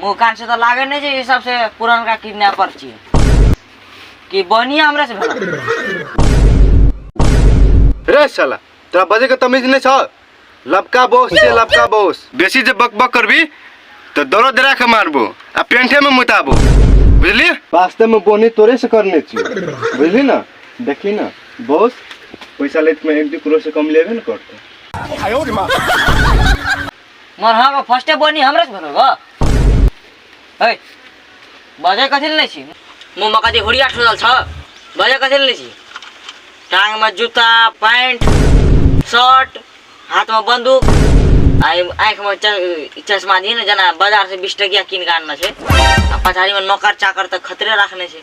मुँह कान से तऽ लागे नहि छै ई सबसे पुरनका किडनैपर छियै कि बनिया हमरे से भेल रे साला तोरा बजे के तमीज नहीं छ लबका बोस से लबका बोस बेसी जे बक बक करबी तो दौड़ो दरा के मारबो आ पेंठे में मुताबो बुझली वास्तव में बोनी तोरे से करने छी बुझली ना देखी ना बोस पैसा लेत में एक दू करोड़ से कम लेबे न करते मार हाँ को फर्स्टे बनी हमरा से भरल बा ए बजे कथि ले छी मो मका दे होड़िया ठोदल छ बजे कथि ले छी टांग में जूता पैंट शर्ट हाथ में बंदूक आई आंख में च- चश्मा दी ने जना बाजार से बीस टकिया कीन के आनना छे आ पछाड़ी में नौकर चाकर तक खतरे रखने छे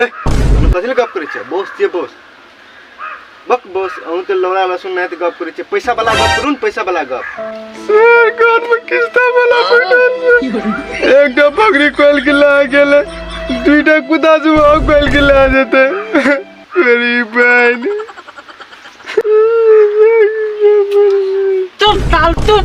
कथी गप करै छै बॉस छियै बॉस बक बॉस अहूँ तऽ लौड़ा लहसुन नहि तऽ गप करै छै पैसा वाला गप करू ने पैसा वाला गप कान में किस्ता वाला एक टा पगड़ी खोल के ला गेले दुईटा कुदा से वो खोल के ला जेते मेरी बहन चुप साल चुप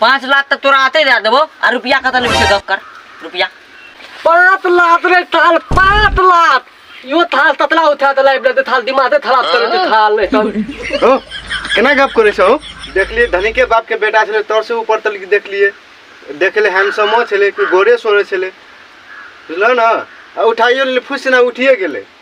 पाँच लाख तक तोरा आते दे देबो आ रुपया कत लेबी से गप कर रुपया पाँच लाख रे थाल पाँच लाख यो थाल ततला उठा देला इबले दे थाल दिमाग दे खराब कर दे थाल नहीं तो ओ केना गप करे छौ देखलिए धनी के बाप के बेटा छले तोर से ऊपर तक देखलिए देखले हैंडसमो छले कि गोरे सोरे छले बुझलो ना आ उठाइयो ले फुस ना उठिए गेले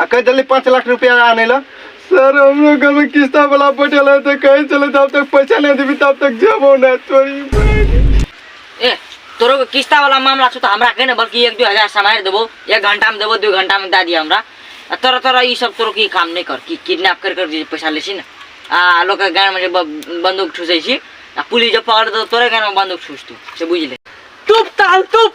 आ कहि देली पाँच लाख रुपया आने ला सर हम लोग घर में किस्ता वाला बैठल है तो कहीं चले जब तक पैसा नहीं देवी तब तक जबो ना तोरी बहन। ए तोरो के किस्ता वाला मामला छौ त हमरा के ने बल्कि एक दू हजार समाएर देबो एक घंटा में देबो दू घंटा में दे दिया हमरा आ तोरा तोरा ई सब तोरो की काम नहीं कर कि किडनैप कर कर जे पैसा ले छी ने आ लोग के गान में जे ब- बंदूक ठूसै छी आ पुलिस जब पकड़ दो तोरे गान में बंदूक ठूस तू से बुझ ले चुप ताल चुप